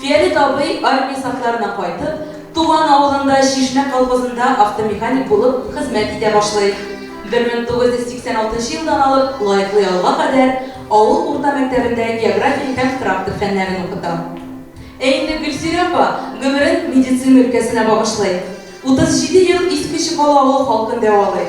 Фиалет абый армия сафларына кайтып, туган авылында Чишмә колхозында автомеханик булып хезмәт итә башлый. Бер мең тугыз йөз сиксән алтынчы елдан алып лаеклы ялга кадәр авыл урта мәктәбендә география һәм трактор фәннәрен укыта. Ә инде Гөлсирә апа гомерен медицина өлкәсенә багышлый. Утыз җиде ел Иске Чокал авыл халкын дәвалый.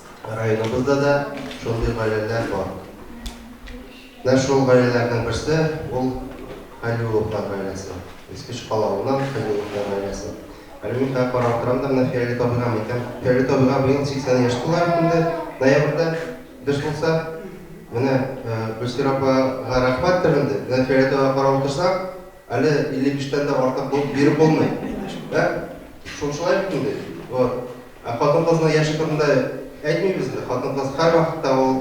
Районыбызда да шундый гаиләләр бар. Менә шул гаиләләрнең берсе, ул Хәлиулловлар гаиләсе. Иске Чкал авылыннан Хәлиулловлар гаиләсе. Әле мин хәзер карап утырам да, менә Фиолет абыйга әйтәм, Фиолет абыйга быел 80 яшь тула бит инде, ноябрьдә без булса. Менә Гөлсира апага рәхмәттер инде, менә Фиолет абыйга карап утырсак, Әле 55 тән дә артык булып биреп булмый. Ә? Шул шулай бит инде. Вот. Ә хатын-кызның яше турында әйтмибез инде. Хатын-кыз һәрвакытта ул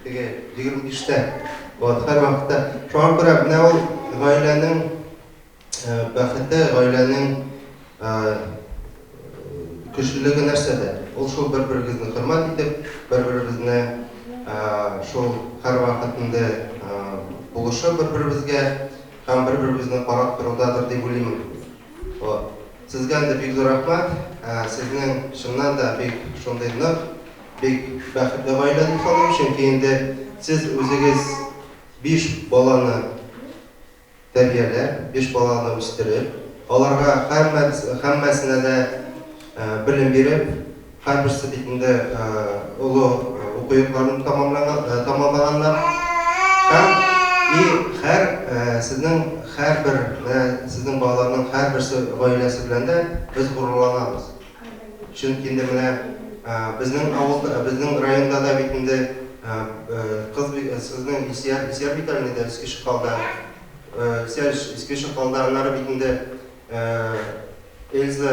теге 25 тә. Вот, һәрвакытта. Шуңа күрә менә ул гаиләнең э, бәхете, гаиләнең э, көчлелеге нәрсәдә? Ул шул бер-берегезне хөрмәт итеп, бер-берегезне э, шул һәрвакыт инде э, булышы бер-берегезгә Һәм бер-беребезне карап торудадыр дип уйлыйм мин. Вот. Сезгә дә бик зур рәхмәт. Ә, сезнең чыннан да бик шундый нык, бик бәхетле гаилә дип саныйм, чөнки инде сез үзегез биш баланы тәрбияләп, биш баланы үстереп, аларга һәммәс, һәммәсенә дә белем биреп, Һәрберсе бит инде олы уку йортларын тәмамлаганнар. Һәм и һәр сезнең һәрбер менә сезнең балаларның һәрберсе гаиләсе белән дә без горурланабыз. Чөнки инде менә безнең авылда, безнең районда да бит инде кыз сезнең Исияр, Исияр бит әле инде Иске Чокалда. Исияр Иске Чокалда, аннары бит инде Эльза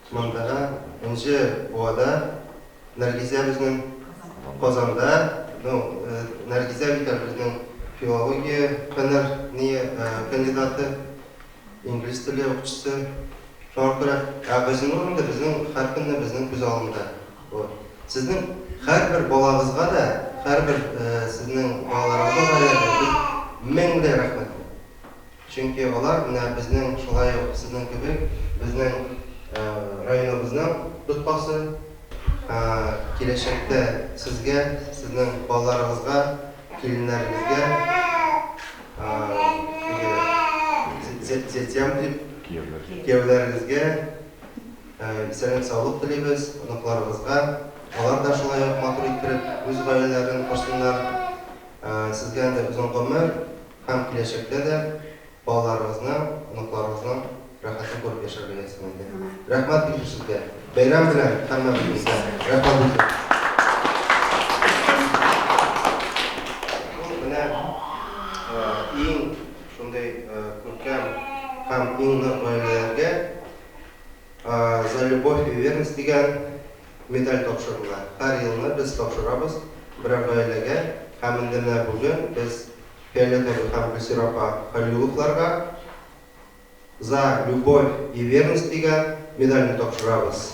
Шмондага, Энҗе буада, Нәргизә безнең Казанда, ну, Нәргизә бит әле безнең филология фәннәр ни кандидаты, инглиз теле укытучысы. Шуңа күрә, ә Газинур инде безнең һәркөнне безнең күз алдында. Вот. Сезнең һәрбер балагызга да, һәрбер сезнең балаларыгызга да без меңле рәхмәтле. Чөнки алар менә безнең шулай ук сезнең кебек безнең районыбызның тоткасы. Киләчәктә сезгә, сезнең балаларыгызга, киленнәрегезгә теге зятям дип, кияүләрегезгә исәнлек-саулык телибез, оныкларыгызга. Алар да шулай ук матур иттереп үз гаиләләрен корсыннар. Сезгә андый озын гомер. һәм киләчәктә дә балаларыгызның, оныкларыгызның рәхәтен күреп яшәргә язсын инде. Рәхмәт бик зур сезгә. Бәйрәм белән һәммәбезне. Рәхмәт бик зур. Иң нык гаиләләргә за любовь и верность дигән медаль тапшырыла. Һәр елны без тапшырабыз берәр гаиләгә һәм инде менә бүген без Фиолетта әби һәм Гөлсирә апа Хәлилулловларга За любовь и верность дигән медальне тапшырабыз.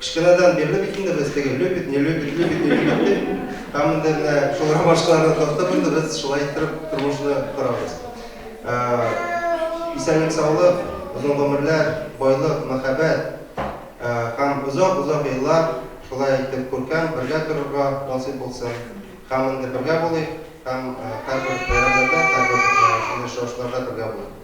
Кечкенәдән бирле бит инде без теге любит, не любит, любит, не любит дип, һәммәдә генә шул ромашкаларны тартып инде без шулай иттереп тормышны корабыз. Исәнлек-саулык, озын гомерләр, байлык, мәхәббәт һәм озак-озак еллар шулай итеп күркәм бергә торырга насыйп булсын. Һәм инде бергә булыйк һәм һәрбер бәйрәмнәрдә, һәрбер шундый очрашуларда бергә булыйк.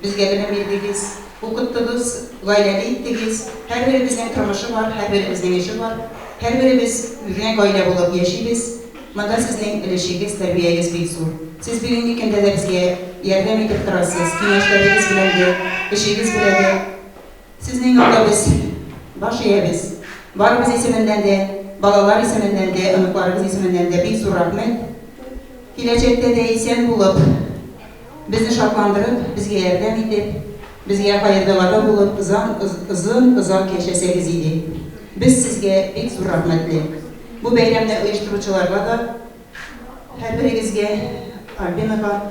Безгә белем бирдегез, укыттыгыз, гаиләле иттегез, һәрберебезнең тормышы бар, һәрберебезнең эше бар, һәрберебез генә гаилә булып яшибез, монда сезнең өлешегез, тәрбиягез бик зур. Сез бүгенге көндә дә безгә ярдәм итеп торасыз, киңәшләрегез белән дә, эшегез белә дә. Сезнең юлда без баш иябез. Барыбыз исеменнән дә, балалар исеменнән дә, оныкларыбыз исеменнән дә бик зур рәхмәт. Киләчәктә дә исән булып. Безне шатландырып, безгә ярдәм итеп, безгә хәердугада булып озан озын озак яшәсәгез иде. Без сезгә бик зур рәхмәтле. Бу бәйрәмне оештыручыларга да, һәрберегезгә, Альбинага,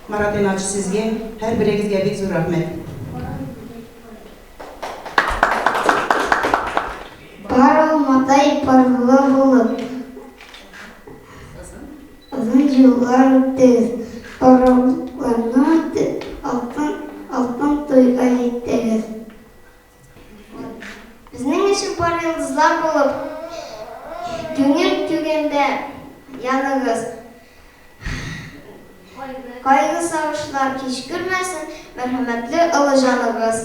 Марат Ринатович, сезгә, һәрберегезгә бик зур рәхмәт. Пар алмадай парлы булып. Озын еллар үтте. Пароходларны алтын, алтын туйга җиттегез. Безнең өчен пар йолдызлар булып, күңел түгендә яныгыз. Кайгы-сагышлар кичкермәсен мәрхәмәтле олы җаныгыз.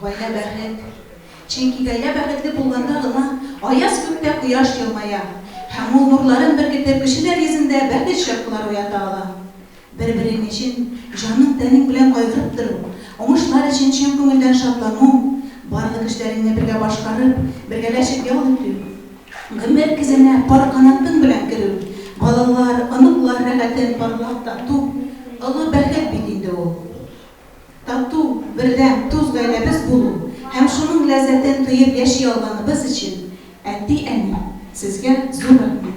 Гаилә бәхет. Чөнки гаилә бәхетле булганда гына аяз күктә кояш елмая һәм ул нурларын беркетеп кешеләр йөзендә бәхет чаткылары уята ала. Бер-берең өчен җаның-тәнең белән кайгырып тору, уңышлар өчен чын күңелдән шатлану, барлык эшләреңне бергә башкарып, бергәләшеп ял итү, гомер көзенә пар канатың белән керү, балалар, оныклар рәхәтен парлап тату, олы бәхет бит инде ул. Тату, бердәм, дус гаиләбез булу һәм шуның ләззәтен тоеп яши алганыбыз өчен әти-әни, сезгә зур рәхмәт!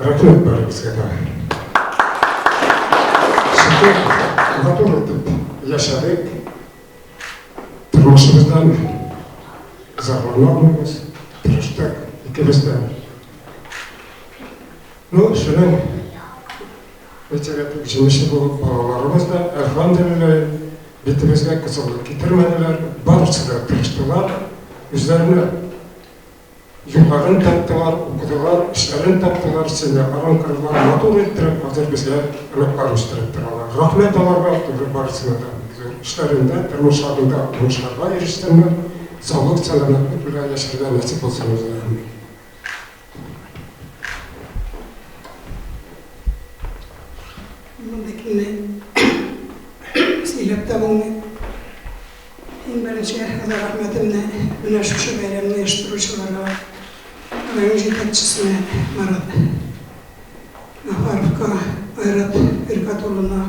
Рәхмәт бәрегезгә дә. Шөкер, матур итеп яшәдек. Тормышыбыздан зарланмабыз, тырыштык икебез дә. Ну, шуның бетерәтек җимеше булып балаларыбыз да, әлхамдулилла, битебезгә кызыллык китермәделәр, барысы да тырыштылар, үзләренә Елларын таптылар, укыдылар, эшләрен таптылар, сине арам кырдылар, матур иттереп хәзер безгә оныклар үстереп торалар. Рәхмәт аларга зур барысына да. Зур эшләрендә, тормышларында уңышларга ирешсеннәр, саулык, сәламәтлек белән яшәргә насыйп булсын үзләренә. Мондый көнне сөйләп тә булмый. Иң беренче Әхмәдгә рәхмәтемне менә шушы бәйрәмне оештыручыларга, район җитәкчесенә Марат Гафаровка, Айрат Фиркат улына,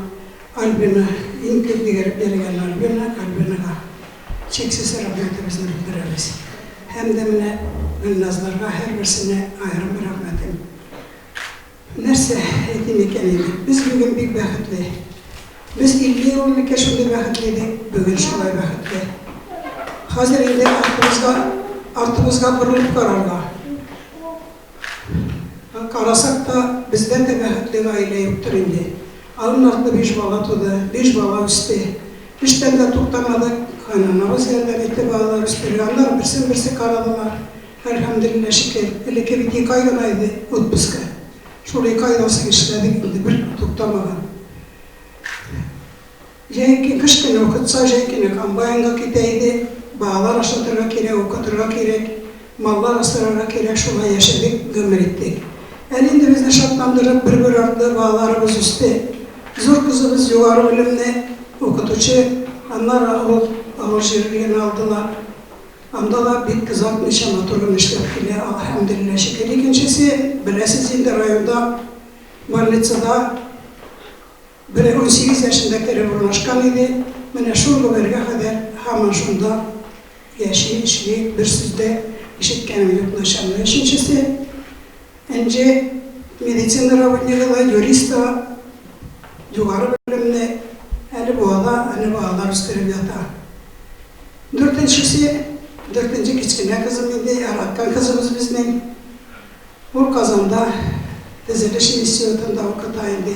Альбина, иң күп дигереп йөргән Альбина Альбинага чиксез рәхмәтебезне белдерәбез. Һәм дә менә Гөлназларга һәрберсенә аерым рәхмәтем. Нәрсә әйтим икән инде, без бүген бик бәхетле. Без 50 ел элек шундый бәхетле идек, бүген шулай бәхетле. Хәзер инде артыбызга, артыбызга борылып карарга. Карасак та, бездән дә бәхетле гаилә юктыр инде. Алын артлы биш бала туды, биш бала үсте. Эштән дә туктамадык, кайнанабыз ярдәм итте балалар үстерергә, аннары берсен-берсе карадылар. Әлхәмделилла шикер, элекке бит ике ай гына иде отпуска, шул ике айда соң эшләдек инде бер туктамаган. Җәй көн, кыш көне укытса, җәй көне комбайнга китә иде, балалар ашатырга кирәк, укытырга кирәк, маллар асрарга кирәк, шулай яшәдек, гомер иттек. Әле инде безне шатландырып, бер-бер артлы балаларыбыз үсте. Зур кызыбыз югары белемле укытучы, аннары авыл җирлеген алдылар. Анда да бик озатмыйча матур гына эшләп килә, алхәмдуллилла шөкер. Икенчесе, беләсез инде, районда больницада бер унсигез яшендә кереп урнашкан иде, менә шул гомергә кадәр һаман шунда яши, эшли, бер сүз дә ишеткәнем юк начарны. Өченчесе. Энҗе медицина работнигы да, юрист та, югары белемле, әле буада, әле балалар үстереп ята. Дүртенчесе, дүртенче кечкенә кызым инде, яраткан кызыбыз безнең. Ул Казанда төзелеш институтында укыта инде.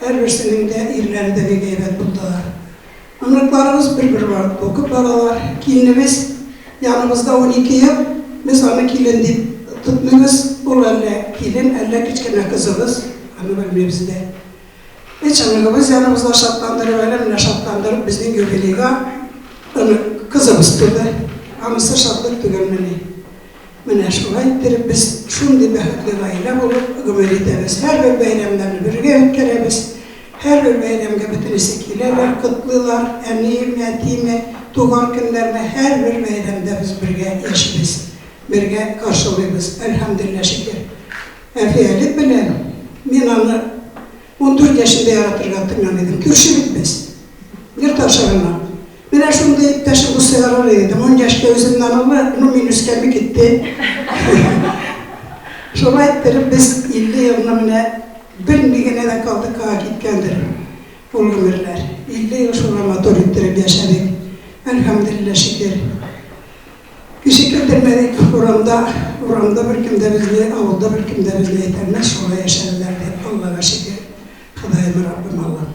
Һәрберсенең дә ирләре дә бик әйбәт булдылар. Оныкларыбыз бер-бер бар, бу күп балалар. Киленебез яныбызда унике ел, без аны килен дип тотмыйбыз, ул әллә килен, әллә кечкенә кызыбыз, аны белмибез дә. Өч оныгыбыз яныбызда шатландырып, әле менә шатландырып безнең юбилейга онык, кызыбыз туды. Анысы шатлык түгелмени? Менә шулай иттереп без шундый бәхетле гаилә булып гомер итәбез. Һәрбер бәйрәмнәрне бергә үткәрәбез. Һәрбер бәйрәмгә бөтенесе киләләр, котлыйлар, әниеме, әтиеме, туган көннәрне һәрбер бәйрәмдә без бергә яшибез, бергә каршылыйбыз, әлхәмдуллиллаһ шөкер. Әфиәлек белән мин аны ундүрт яшендә яратырга тотынган идем, күрше бит без, йорт аша гына. Менә шундый иптәшем булса ярар иде. Ун яшькә үземнән олы, ну мин үскәнне китте. Шулай иттереп без 50 елны менә белми генә дә калдык, кая киткәндер ул гомерләр. 50 ел шулай матур иттереп яшәдек. Әлхәмдулиллаһ, шөкер. Кеше китермәдек урамда, урамда беркем дә безне, авылда беркем дә безне әйтәлмәс, шулай яшәделәр дип, Аллага шөкер. Ходаем, Раббым, Аллам.